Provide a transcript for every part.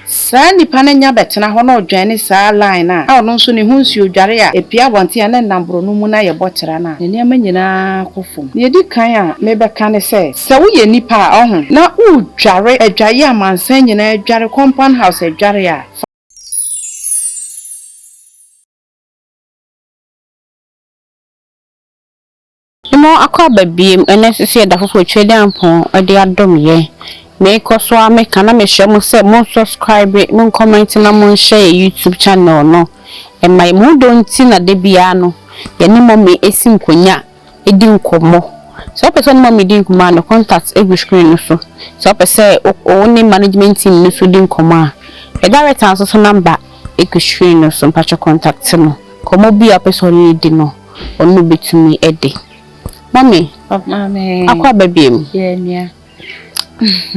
Saa nipa no nya bɛtena hɔ na ɔdwɛn ne saa line no a ɔno nso ne ho nsuo dware a ɛpue abɔnten a na ɛnam borɔno mu no ayɛ bɔtra no a, ne nneɛma nyinaa kɔ fam. Nea ɛdi kan a mebɛka ne sɛ, sɛ woyɛ nipa a ɔho na woredware adwaeɛ a mansan nyinaa adware, compound house adware a, fa. Mɔ akɔ aba biem ɛna ɛsɛ sɛ yɛda foforo kyerɛ Nyankpɔn de adom yɛ. Me kɔ so ara me ka na me srɛ mo sɛ mo subscribe, mo comment na mo nhyɛ yɛ YouTube channel no ma yɛ. Mo dɔ nti na da biara no yɛ ne Mummy ɛsi nkonya di nkɔmmɔ. Sɛ wopɛ sɛ wo ne Mummy di nkɔmmɔ a ne contact ɛgu screen no so. Sɛ wopɛ sɛ wo ne management team no nso di nkɔmmɔ a yɛ director nso so number ɛgu screen no so mpakyɛ contact no. Nkɔmmɔ biara wopɛ sɛ wo ne no di no. Ɔno betumi de. Mummy, akɔ aba biom? Yeah, nua.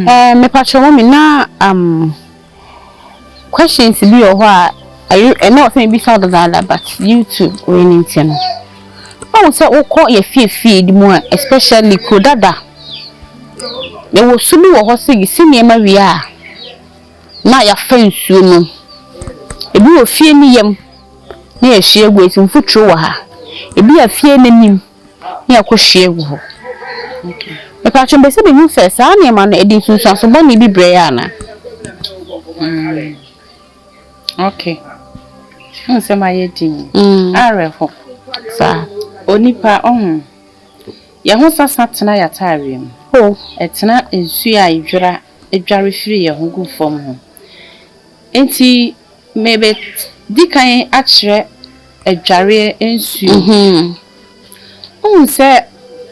Eh, me patrɔ mummy, na um, questions bi wɔ hɔ a, ayi, ɛna ɔsɛ me bisa ɔdadaada, but you too, wei ne nti no. Ɔwɔ sɛ wokɔ yɛ fiefie di mu a, especially kuro dada. Yɛwɔ su bi wɔ hɔ sɛ yɛsi nneɛma wie a, na yɛafa nsuo no. Ebi wɔ fie no yam na yɛhwie agu, nti mfuturo wɔ ha. Ebi wɔ fie no anim na yɛkɔhwie agu hɔ. Mepɛ sɛ mepɛ sɛ mehu sɛ saa nneɛma no, ɛde nsunsuanso bɔne bi brɛ yɛn anaa? Mm. Okay. Nsɛm ayɛ din. Mm. Awerɛho. Saa. Onipa ɔho. Yɛn ho sasa tena yɛn ataareɛ mu. Oh. Ɛtena nsuo a yɛdwira dware firi yɛn ho gu fam ho. Enti mebɛdi kan akyerɛ adwareɛ nsuo. Wohu sɛ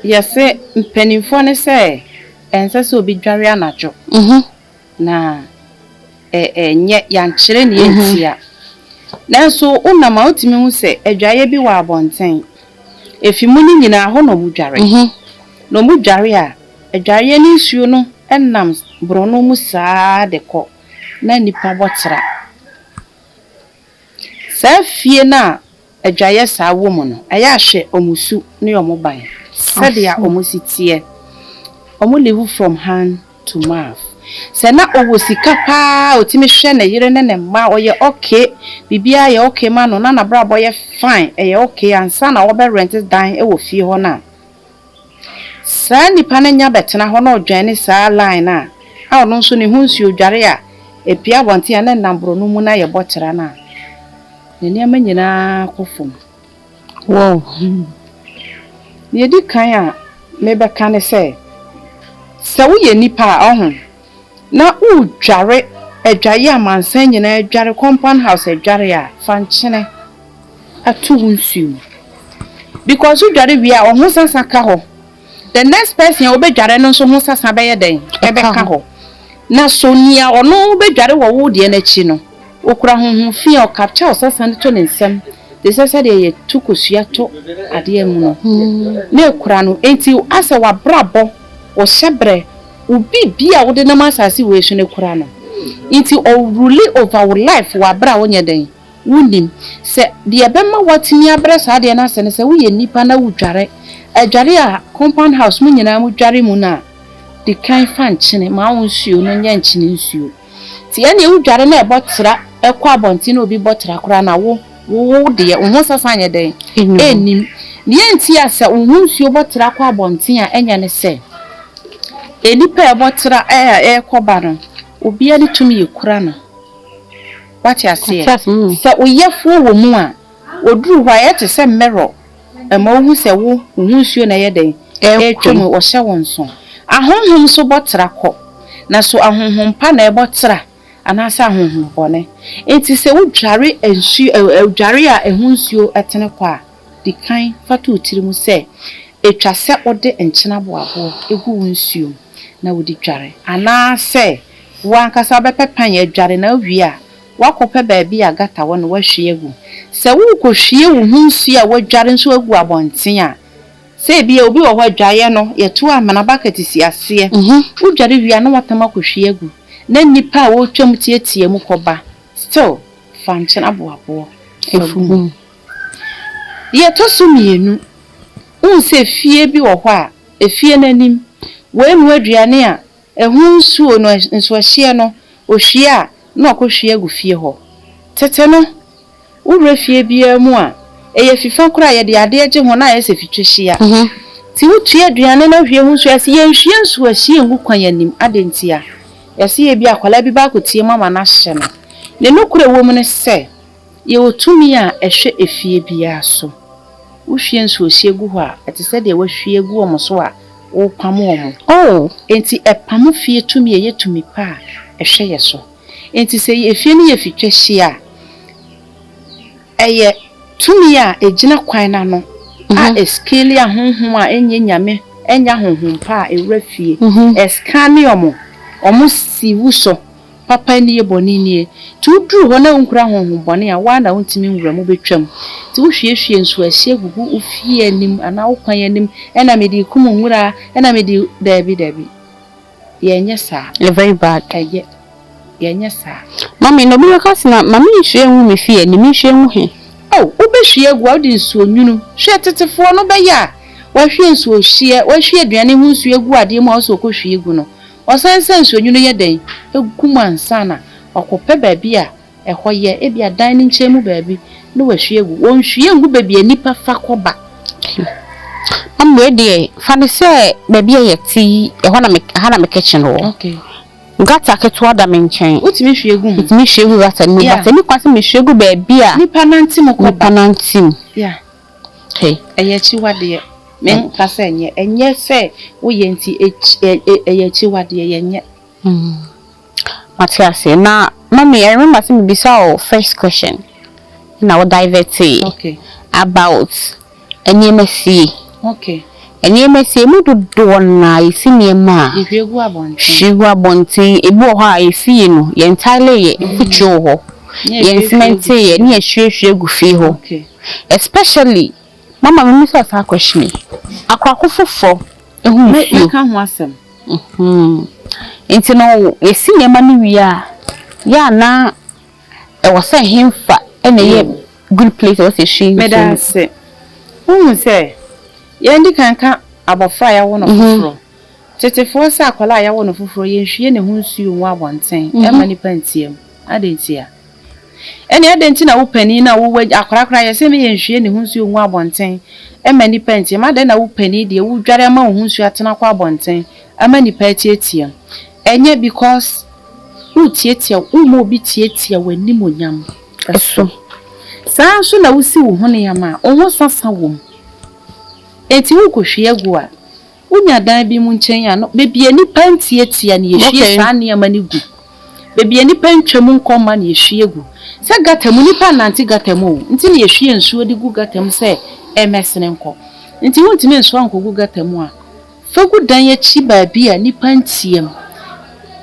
yɛse mpanimfoɔ no sɛ ɛnsɛ sɛ obi dware anadwo na ɛnyɛ yɛankyerɛ nea ɛntia. Nanso wonam a wotumi hu sɛ adwaeɛ bi wɔ abɔnten. Efi mu no nyinaa hɔ na wɔdware. Na wɔdware a. Adwareɛ ne nsuo no nam borɔno mu saa ara de kɔ, na nnipa bɔ tra. Saa fie no a adwareɛ saa wɔ mu no, ɛyɛ a hwɛ wɔn su ne wɔn ban, sɛdeɛ wɔn si teɛ. Wɔn live from hand to mouth. Sɛ na ɔwɔ sika pa ara a, ɔtumi hwɛ ne yere ne ne mma, ɔyɛ okay, biribiara yɛ okay ma no, na n'abrabɔ yɛ fine, ɛyɛ okay, ansa na wɔbɛ rent dan wɔ fie hɔ no a, Saa nipa no nya bɛtena hɔ na ɔdwɛne saa line no a, a ɔno nso ne ho nsuo dware a ɛpue abɔnten a na ɛnam borɔno mu na ayɛ bɔtera no a, ne nneɛma nyinaa kɔ fam. Wow! Deɛ ɛdi kan a mebɛka ne sɛ, sɛ woyɛ nipa a, ɔho. na woredware adwaeɛ a amansan nyinaa dware, compound house adware a, fa nkyene ato wo nsuo mu. Because wodware wie a, ɔho sasa ka hɔ. The next person a wobɛdware no nso ho sasa bɛyɛ dɛn? Ɛbɛka hɔ. Na so nea ɔno bɛdware wɔ wo deɛ no akyi no, ɔkura honhom fi a ɔkapkya ɔsasa no to ne nsam te sɛ sɛdeɛ yɛto kosua to adeɛ mu no, na ɛkura no. Enti asɛ w'abrabɔ, wo hyɛberɛ, Wo biribi a wode nam asase wei so no kura no nti ɔ rule over wo life wɔ aberɛ a wonyɛ dɛn wonnim sɛ deɛ ɛbɛma woatumi abrɛ saa adeɛ no ase no sɛ woyɛ nnipa na wodware adware a compound house mo nyinaa mo dware mu no a dikan fa nkyene ma wo nsuo no nyɛ nkyene nsuo. Sɛ yɛne wo dware na ɛbɔ tra kɔ abɔnten na obi bɔ tra koraa na wo wo deɛ wo ho sasa nyɛ dɛn? Ɛnnim. Deɛ ɛnti a sɛ wo ho nsuo bɔ tra kɔ abɔnten a ɛnyɛ ne sɛ nnipa a ɛbɔ tra ɛrekɔ ba no obiara ne tumi yɛ kura no. Wate aseɛ? Sɛ wo yɛfoɔ wɔ mu a ɔduru hɔ a ɛyɛ te sɛ mirror Ɛma wohu sɛ wo, wo ho nsuo na ɛyɛ dɛn? Ɛretwam. Ɛretwam. Wɔhyɛ wo nso. Ahonhom nso bɔ tra kɔ. Na so ahonhom pa na ɛbɔ tra anaasɛ ahonhom bɔne? Enti sɛ wodware nsuo ɛ, ɛ, dware a ɛho nsuo tene kɔ a, di kan fa to wo tirim sɛ ɛtwa sɛ wode nkyena boaboɔ gu wo nsuo mu na wode dware anaasɛ wo ankasa wobɛpɛ pan adware na wowie a, Woakɔpɛ baabi a gata wɔ na woahwie agu. Sɛ worekɔhwie wo ho nsuo a woadware nso agu abɔnten a, sɛ ebia obi wɔ hɔ a, adwaeɛ no, yɛto amena, bucket si aseɛ. Wodware wie a na woatam akɔhwie agu, na nnipa a wɔretwam teatea mu kɔba, still fa nkyene aboaboɔ fa gu mu. Deɛ ɛtɔ so mmienu, wohu sɛ fie bi wɔ hɔ a, efie no anim, woanu aduane a, Ɛho nsuo no nso ɛhyeɛ no, ɔhwie a, na ɔkɔhwie agu fie hɔ. Tete no, wowura fie biara mu a, ɛyɛ fifa koraa a yɛde adeɛ gye ho na ayɛ sɛ fitwahyia. Nti wotue aduane na wohwie ho nsuo a, yɛse yɛnhwie nsuo a ɛhyeɛ ngu kwan anim. Adɛn ntia? Yɛse ebia akwadaa bi bɛakɔteam ama no ahyɛ no. Ne nokorɛ wɔ mu ne sɛ, Yɛwɔ tumi a ɛhwɛ efie biara so. Wohwie nsuohyeɛ gu hɔ a, ɛte sɛ deɛ woahwie agu wɔn so a worepamo wɔn. Oo, enti ɛpamo fie tumi a ɛyɛ tumi pa a ɛhwɛ yɛn so. Enti sɛ efie no yɛ fitwahyeɛ a, ɛyɛ tumi a ɛgyina kwan no ano a ɛskeeli ahonhom a ɛnyɛ Nyame, ɛnyɛ ahonhom pa a ɛwura fie. Ɛskaane wɔn, wɔn si wusɔ, Papa nie, bɔne nie. Nti woduru hɔ na wonkura honhom bɔne a, wo ara na wontumi nwura mu, wobɛtwam. Nti wohwiehwie nsuoahyeɛ gugu wo fie anim anaa wo kwan anim na mede rekum nwura na mede, daabi, daabi. Yɛnyɛ saa. Ɛyɛ very bad. Ɛyɛ. Yɛnyɛ saa. Mummy, na obi bɛka se na, ma me nhwie ngu me fie anim, menhwie ngu he? Oh, wobɛhwie agu a, wode nsuo nwunu. Hwɛ, tetefoɔ no bɛyɛ a, wahwie nsuohyeɛ, wahwie aduane ho nsuo agu adeɛ mu a ɔse ɔkɔhwie gu no. Wɔsan sɛ nsuonwunu yɛ dɛn gu mu ansa na wɔakɔpɛ baabi a ɛhɔ yɛ, ebia dan no nkyɛn mu baabi, na wɔahwie agu. Wɔnhwie ngu baabi a nnipa fa kɔ ba. Pii. Na mmue deɛ, fa no sɛ baabi a yɛte yi, ɛhɔ na me, ha na me kitchen wɔ. Okay. Gutter ketewa da me nkyɛn. Wotumi hwie gu ho? Metumi hwie gu gutter no mu, Yeah. but ɛnni kwan sɛ mehwie gu baabi a Nnipa nante mu kɔ nnipa ba. nante mu. Yeah. He, ɛyɛ akyiwadeɛ. Me nka sɛ ɛnyɛ. Ɛnyɛ sɛ wo yɛ nti ɛyɛ akyiwadeɛ, yɛnyɛ. Mate aseɛ. Na mummy, I remember sɛ me bisa wo first question na wo divertee. Okay. About nneɛma sie. Okay. Nneɛma sie mu dodoɔ no ara yɛsi nneɛma a. Yɛhwie gu abɔnten. Hwie gu abɔnten. Ebi wɔ hɔ a yɛsi yi no, yɛn tile yɛ, mfuturo wɔ hɔ. Yɛn cement yɛ, ne yɛhwie hwie gu fie hɔ. Okay. Especially mama me misa saa question yi akwako foforɔ ɛho nsuo. Mɛ ka ho asɛm. Mm-hmm. Nti no yɛ si nneɛma no wie a yɛ a na ɛwɔ sɛ hemfa ɛna yɛ mm. good place ɛwɔ sɛ ɛhyɛ nsuo. Mɛ da ase. Wohu sɛ yɛn di kan ka abɔfra a yɛawo no mm-hmm. foforɔ. Tetefoɔ sɛ akwadaa a yɛawo no foforɔ yɛnhwie ne ho nsuo ngu abɔnten ɛma mm-hmm. nipa ntiam. Adɛn ntia? Ɛnneɛ adɛn nti na wo panin no a wowɔ agya, akwadaa koraa yɛ sɛ ne yɛ nhwie ne ho nsuo ngu abɔnten mma nnipa ntiam? Adɛn na wo panin deɛ, wodware ama wo ho nsuo atena kɔ abɔnten ama nnipa atiatiam? Ɛnyɛ because wotiatia, womma obi tiatia w'animuonyam so. Saa ara nso na wosi wo ho nneɛma a, wo ho sasa wom. Enti worekɔhwie agu a. Wonya dan bi mu nkyɛn a, no, baabi a nnipa nteatea no, yɛhwie saa nneɛma no gu. Baabi a nnipa ntwam nkɔ mma no, yɛhwie gu. Sɛ gata mu, nnipa nnante gata mu o, nti na yɛhwie nsuo de gu gata mu sɛ ɛmmɛsene nkɔ. Nti wontumi nsoa nkɔgu gata mu a, fa gu dan akyi baabi a nnipa nteam.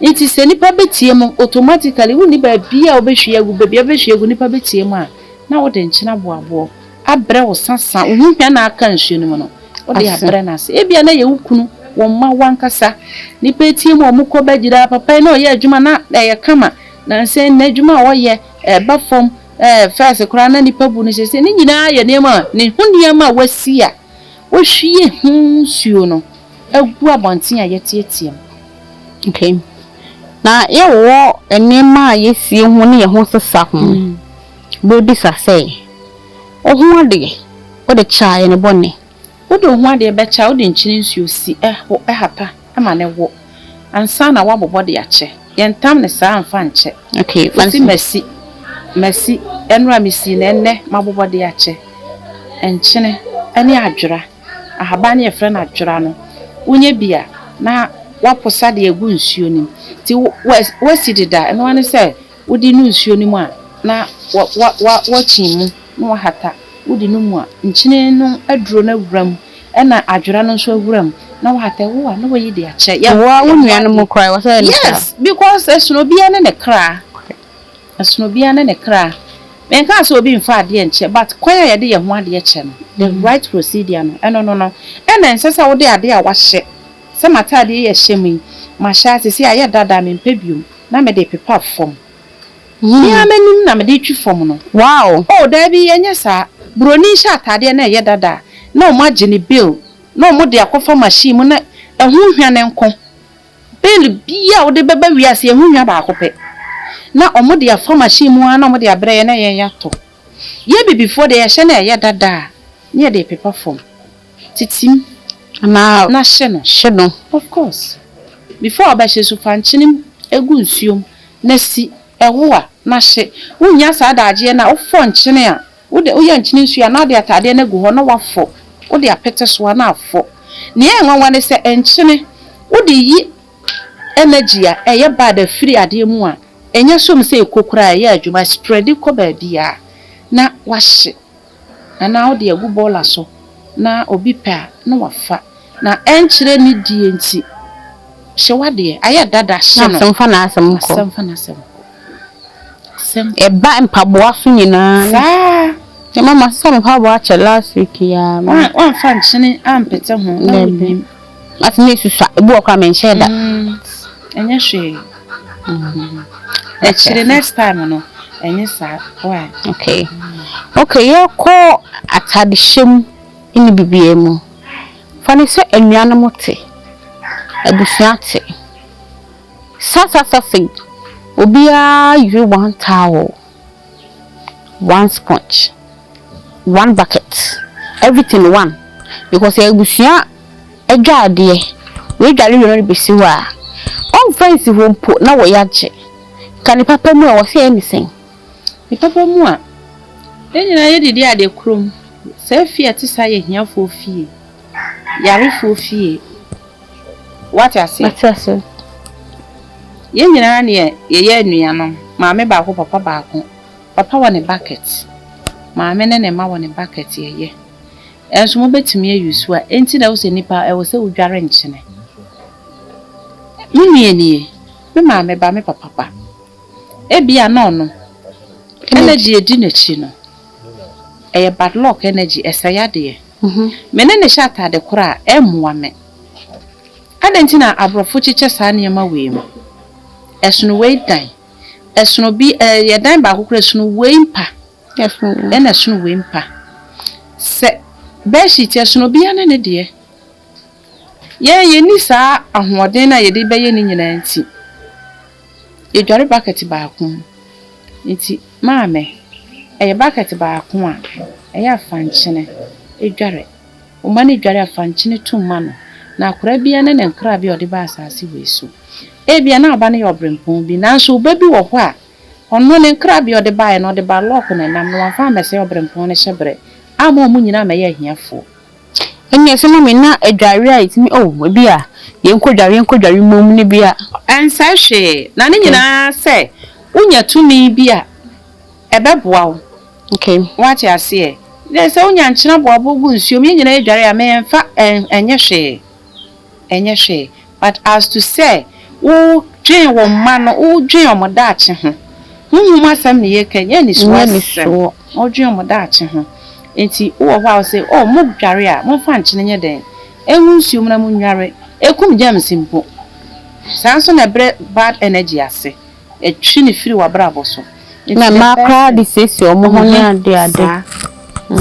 Nti sɛ nnipa bɛteam no, automatically wonni baabi a wobɛhwie agu, baabi a wobɛhwie agu, nnipa bɛteam a, na wode nkyene aboaboa. abrɛ wo sasa, wo ho hia na aka nsuo no mu no, wode abrɛ no ase. Ebia na ɛyɛ wo kunu, wo mma, w'ankasa. Nnipa atie mu a wɔkɔ bɛgyina, papa yi na ɔyɛ adwuma na ɛyɛ kama, nansa yi n'adwuma a ɔyɛ ɛreba fam, ɛɛ fɛs koraa na nnipa bu no seesei. Ne nyinaa yɛ nneɛma a, ne ho nneɛma a wasi a wohwie ho nsuo no agu abɔnten a yɛteateam. Okay. Na yɛwɔ nneɛma a yɛsie ho ne yɛn ho sesa ho. Bebisa sɛ, O ho adeɛ, wode kyaa yɛn bɔne? Wode wo ho adeɛ bɛkyɛ a, wode nkyene nsuo si ho hapa ma no wo, ansa na woabobɔ de akyɛ. Yɛntam no saa mfa nkyɛ. Ɔse, Masi, masi, ɛno a mesii no ɛnnɛ mabobɔ de akyɛ, nkyene ne adwera, ahaban no yɛfrɛ no adwera no, wonya bi a na woaposa de agu nsuo no mu, nti woasi dedaa, ɛno ara ne sɛ Wode no nsuo no mu a, na woakyin mu na woahata. Wode no mu a, nkyene no aduro no awura mu, ɛna adwera no nso awura mu, na woahata. Wo a, na woayi de akyɛ. Wo ara wo nuanom koraa, ɛwɔ sɛ woyɛ no saa? Yes, because ɛsono obiara ne ne kra. Ɛsono obiara ne ne kra. Menkaa sɛ obi mfa adeɛ nkyɛ, but kwan a yɛde yɛn ho adeɛ kyɛ no, the right procedure no, ɛno no no. Ɛna ɛnsɛ sɛ wode adeɛ a woahyɛ, sɛ m'ataadeɛ yi a ɛhyɛ me yi, mahyɛ ara, seesei ayɛ dada a, mempɛ bio. na mede pepa fam. Me ara m'anim na mede twi fam no. Oh, dabi, ɛnyɛ saa. Buroni hyɛ ataadeɛ na ɛyɛ dada a, na wɔagye ne bail na wɔde akɔfa machine mu na ɛho hwa no nko. Bail biara a wode bɛba wiase yi, ɛho hwa baako pɛ. Na wɔde afa machine mu ara na wɔde abrɛ yɛn na yɛatɔ. Yɛn Abibifoɔ deɛ, yɛhyɛ na ɛyɛ dada a, na yɛde pepa fam. Titim anaa na hye no. Hye no. Of course. Before ɔbɛhye supankyenem gu nsuom na si, ɛwo a, na hye. Wonnya saa daagyeɛ no a, wofɔ nkyene a, wode, woyɛ nkyene nsuo a na wode ataadeɛ no agu hɔ na woafɔ, wode apete so a na afɔ. Nea ɛyɛ nwanwa ne sɛ nkyene, wode yi energy a ɛyɛ bad a firi adeɛ mu a, ɛnya som sɛ ɛkɔ koraa a, ɛyɛ adwuma, ɛspreadi kɔ baabiara na wahye. Anaa wode agu bɔɔla so na obi pɛ a na wafa na ɛnkyerɛ ne deɛ nti hyɛ wadeɛ ayɛ dada hyɛ no na asɛm fa n'asɛm nkɔ asɛm fa n'asɛm nkɔ asɛm ɛba mpaboa so nyinaa saa mama sɛ mpaboa kyɛ last week yaa me wanfa nkyene ampete ho na wonim. Matumi asusua, ebi wɔ koraa menhyɛɛ da. Ɛnyɛ hwee. Akyire next time no, ɛnyɛ saa. Why? Okay. Okay, yɛkɔ atadehyɛ mu ne biribiara mu. Fa no sɛ anuanom te, abusua te. Sasasasɛi, obiara yere one towel. one sponge, one bucket, everything one because ɛyɛ abusua adwaredeɛ. Woadware wie na wode bɛsi hɔ a, wɔmmfa nsi hɔ mpo na wo yea gye. Ka ne papa mu a, ɛwɔ sɛ ɛyɛ ne sɛn? Ne papa mu a, yɛn nyinaa yɛdidi adeɛ korɔ mu. Saa fie a ɛte saa yɛ ahiafoɔ fie, yarefoɔ fie. Wate aseɛ? Mate aseɛ. Yɛn nyinaa ne yɛyɛ anuanom. Maame baako, papa baako. Papa wɔ ne bucket. Maame ne ne mma wɔ ne bucket yɛyɛ. Ɛnso mobɛtumi ayi so a. Ɛnti na wosɛ nipa ɛwɔ sɛ wodware nkyene. Me nua nie, me maame ba, me papa ba. Ebia na ɔnom. Energy a ɛdi n'akyi no, ɛyɛ bad luck energy, ɛsɛe adeɛ. Me ne no hyɛ atade koro a, ɛremmoa me. Adɛn nti na aborɔfo kyekyɛ saa nneɛma wei mu? Ɛsono wei dan. Ɛsono bi, ɛyɛ dan baako koraa, ɛsono wei mpa, ɛnna ɛsono wei mpa. Sɛ bedsheet a, ɛsono obiara ne ne deɛ. Yɛn, yenni saa ahoɔden no a yɛde bɛyɛ ne nyinaa nti, yedware bakɛt baako mu. Enti, Maame, ɛyɛ bakɛt baako a ɛyɛ afankyene dware. Woma no dware afankyene tu ma no, na akwadaa biara ne ne nkrabea a ɔde ba asaase wei so. Ebia na aba no yɛ ɔberempɔn bi, nanso wo ba bi wɔ hɔ a, ɔno, ne nkrabea a ɔde baeɛ no, ɔde ba lɔɔko na ɛnam, na wamfa ammɛsɛe ɔberempɔn no hyɛberɛ, amma wɔn nyinaa ammɛyɛ ahiafoɔ. Ɛnneɛ sɛ mami na adwareɛ a ɛtumi oh ebi a yɛnkɔdware yɛnkɔdware mmom no bi a. Ɛnsɛe hwee na ne nyinaa sɛ wonya tumi bi a ɛbɛboa wo. Okay. Woate aseɛ. Dɛ sɛ wonya nkyene aboaboa gu nsuom yɛn nyinaa dware a memfa ɛnyɛ hwee. ɛnyɛ hwee but as to sɛ wo dwen wo mma no wo dwen ɔmo daakye ho honhom asɛm na yɛka ɛnyɛ anisoɔ asɛm wo dwen ɔmo daakye ho nti wo wɔ hɔ a wo se oh mo dware a mo mfa nkyene nyɛ dɛn ɛngu nsuo mu na mo nnware ɛkum germs mpo saa nso na ɛbrɛ bad energy ase ɛtwe no firi wabrabɔ so nti na mmaa koraa de siesie ɔmo ho ne ade ade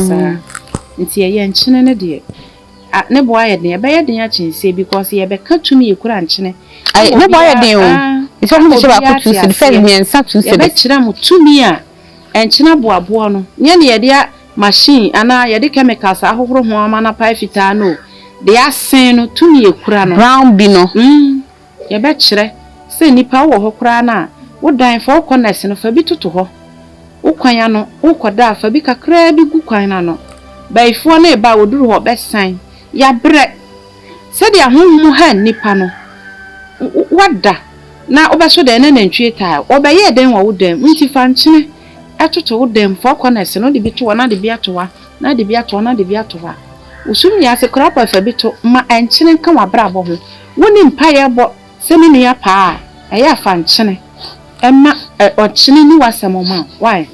saa nti ɛyɛ nkyene no deɛ. Ah ne bo ayɛ den. Ɛbɛyɛ den akyen se bi cause yɛ bɛ ka tumi ekura nkyene ama obiara ah ama obiara te aseɛ. Yɛ bɛ kyerɛ mo tumi a nkyene aboaboɔ no nyɛ ne yɛ de a machine anaa yɛ de chemicals ahohoro ho ama no apae fitaa no o. Deɛ asen no tumi ekura no. Brown bi no. Umm. Yɛbɛkyerɛ sɛ nnipa wowɔ hɔ koraa no a, wo dan, fa wo kɔnɛs no, fa bi toto hɔ. Wo kwan ano, worekɔda a, fa bi kakraa bi gu kwan no ano. Bayifoɔ no reba a, wɔduru hɔ, bɛsan. Yɛabrɛ. Sɛdeɛ honhom ha nnipa no, woada na wobɛso dɛn na nantwie taa? Wɔbɛyɛɛ dɛn wɔ wo dan mu? Enti fa nkyene toto wo dan mu, fa wo kɔnɛs no, wode bi to hɔ, na de bi ato hɔ a, na de bi ato hɔ, na de bi ato hɔ a. Wo so nni ase koraa mpo a, fa bi to. Ma nkyene nka w'abrabɔ ho. Wo ne mpaeɛ bɔ sɛ me nua paa a, ɛyɛ a fa nkyene ma ɔnkyene nni w'asɛm mma wo. Why?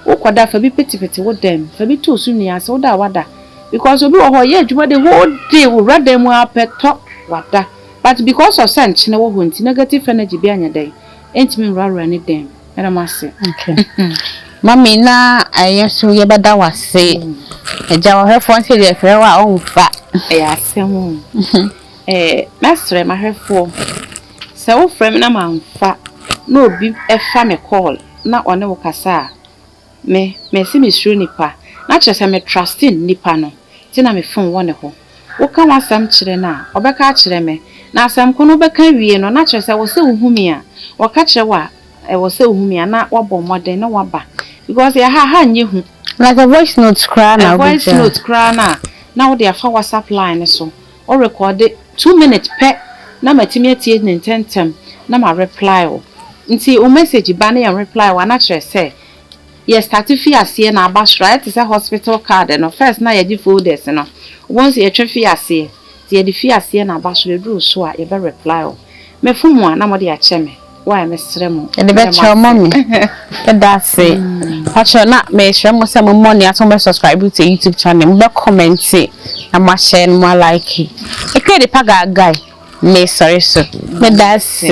Wo kɔ da fa bi petepete wo dan mu, fa bi to osu nnua ase, wo da a wada. Because obi wɔ hɔ ɔyɛ adwuma the whole day owura dan mu ara pɛ tɔ wada. But because of sɛ nkyene wɔ hɔ nti negative energy bi anyɛ dɛn ɛntumi nwurawura ne dan mu. Meda mo ase. Okay. Mummy na ɛyɛ so yɛ bɛda wo ase. Agya ɔhwɛfoɔ nso deɛ ɛfrɛ wo a ɔmfa. Ɛyɛ asɛm o. Ɛɛ, mɛsrɛ m'ahwɛfoɔ sɛ wofrɛ me na mamfa na obi fa me call na ɔne wo kasa a, me, mese mesuro nipa, na kyerɛ sɛ me trust nnipa no nti na me phone wɔ ne hɔ. Woka w'asɛm kyerɛ no a, ɔbɛka akyerɛ me, na asɛm ko no wobɛka awie no na kyerɛ sɛ ɛwɔ sɛ wohu me a, wɔka kyerɛ wo a, ɛwɔ sɛ wohu me a na woabɔ mmɔden na woaba because yɛ ha, ha nyɛ hu. Like a voice note koraa na wobɛgyaa. Voice note koraa no a, na wode afa WhatsApp line no so Wo rekɔɔde two minutes pɛ na matumi atie no ntɛntɛm na ma reply wo. Nti wo message ba na yɛn reply wo a na kyerɛ sɛ yɛ start fii aseɛ na aba soro. Ayɛ te sɛ hospital card no, first na yɛgye folders no, wobɛhu sɛ yɛtwa fii aseɛ. Nti yɛde fii aseɛ na aba soro, ɛduru soro a yɛbɛ reply wo. Mefom a na mode akyɛ me. why mesrɛ mo ɛde bɛkyɛ ɔma me ɛda ase pakyɛ na mesrɛ mo sɛ mo mmɔ ne ato mo subscribe to youtube channel mo bɛ comment na mo ahyɛ no mo like ɛkɛ de pa gaagai me sɔre so meda ase